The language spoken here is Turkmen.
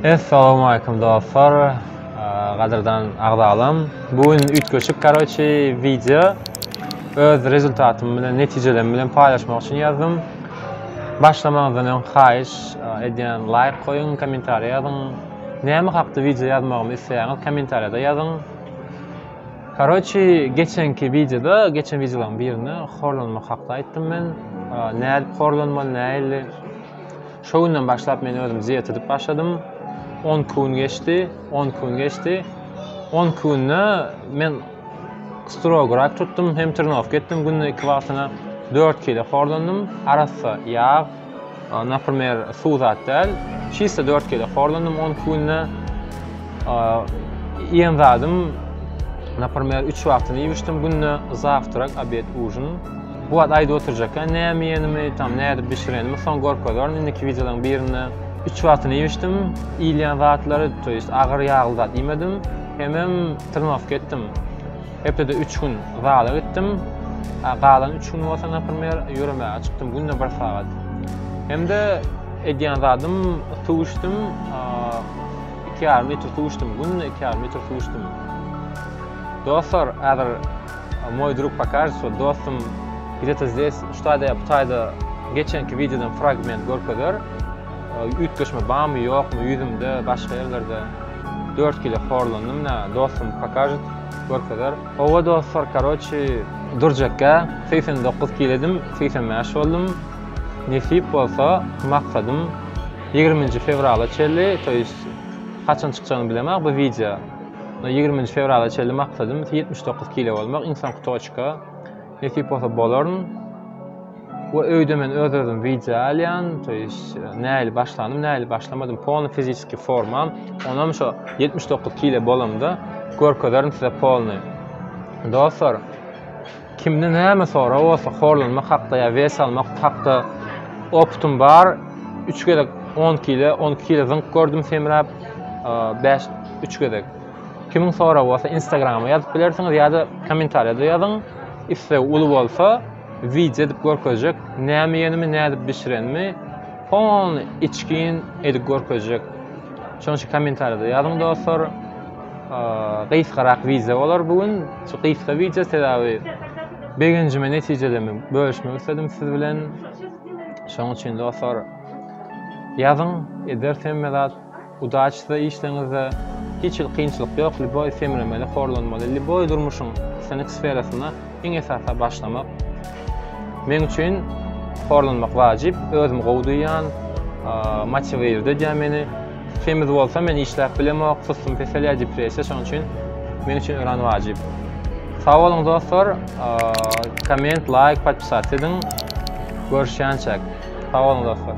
Essalamu aýkum dostlar. Gadyrdan agzalam. Bu gün üýtgeşik karoçi wideo öz rezultatym bilen netijelerim bilen paýlaşmak üçin ýazdym. Başlamazdan öň haýyş edýän laýk goýuň, kommentariýa ýazyň. Näme hakda wideo ýazmagymy isleýäňiz kommentariýada ýazyň. Karoçi geçenki wideoda, geçen wideolaryň birinde horlanmak hakda aýtdym men. Nädip horlanmaly, nähili? Şo günden başlap men özüm dieta edip başladym. 10 gün geçdi, 10 gün geçdi. 10 günde men strogo rak tutdum, hem trenirowka etdim günde 2 wagtyna. 4 kilo horlandym. Arassa ýag, Naprimer, suw zat däl. Çista dört gezek horlandym on iki günde. Iýen zadym, naprimer, üç wagtyny iýip içdim günde, zawtrak, obed, ujin. Bu wagt aýdyp oturjakka, näme iýenimi, tam nädip bişirenimi soň görkezerin indiki wideolaryň birinde. Üç wagtyny iýip içdim, iýilýän zatlary, to ýest agyr ýagly zat iýmedim, hemem trenirowka etdim. Hepdede üç gün zala gitdim. Galan üç gün bolsa, naprimer, ýöremäge çykdym günde bir sagat. Hem-de edýän zadym suw içdim. Iki ýarym litr suw içdim günde, iki ýarym litr suw içdim. Dostlar, häzir moý drug pokažytsa, dostum gidete zdes, ştaýda, ptaýda geçenki wideodan fragment görkezer. Üýtgeşme barmy, ýokmy, ýüzümde, başga ýerlerde. Dört kile horlandym, dostum pokažyt. Görkezer. Howwa dostlar karoçi durjekgä segsen dokuz kilo edim segsen bäş boldum. Nesip bolsa maksadym ýigriminji fewrala çenli to ýest haçan çykjagyny bilemok bu wideo. Ýigriminji fewrala çenli maksadym ýetmiş dokuz kilo bolmak iň soňky toçka. Nesip bolsa bolaryn. Bu öýde men öz özüm wideo alýan, to ýeş näli başlandym, näli başlamadym, polny fiziski formam, onam şo 79 kile bolamda görkezerin size polny. Dostlar, kimde näme sorag bolsa, horlanmak hakda ýa wes almak hakda optum bar. 3 gezek 10 kile, 12 kile zyňk gördüm semräp, 5 3 gezek. Kimiň soragy bolsa instagrama ýazyp bilersiňiz ýa-da kommentariýada ýazyň. Isleg uly bolsa wideo edip görkezjek. Näme iýenimi, nädip bişirenimi pon içgin edip görkezjek. Şonuň üçin kommentariýada ýazyň dostlar. Gysgarak wideo bolar bu gün. Şu gysga wideo sebäbi begenjime, netijelerimi bölüşmek isledim siz bilen. Şonuň üçin dostlar ýazyň, ederis hemme zat. Udaçi size işleňizde hiç hil kynçylyk ýok lýuboý semremeli horlanmaly lýuboý durmuşyň synyk sferasyna iň esasa başlamak meň üçin horlanmak wajyp özümi gowy duýýan motiwird edýär meni semiz bolsa men işläp bilemok sussum peselýär depressiýa şonuň üçin meň üçin örän wajyp sag boluň dostlar komment laýk podpisat ediň görüşýänçäk sag boluň dostlar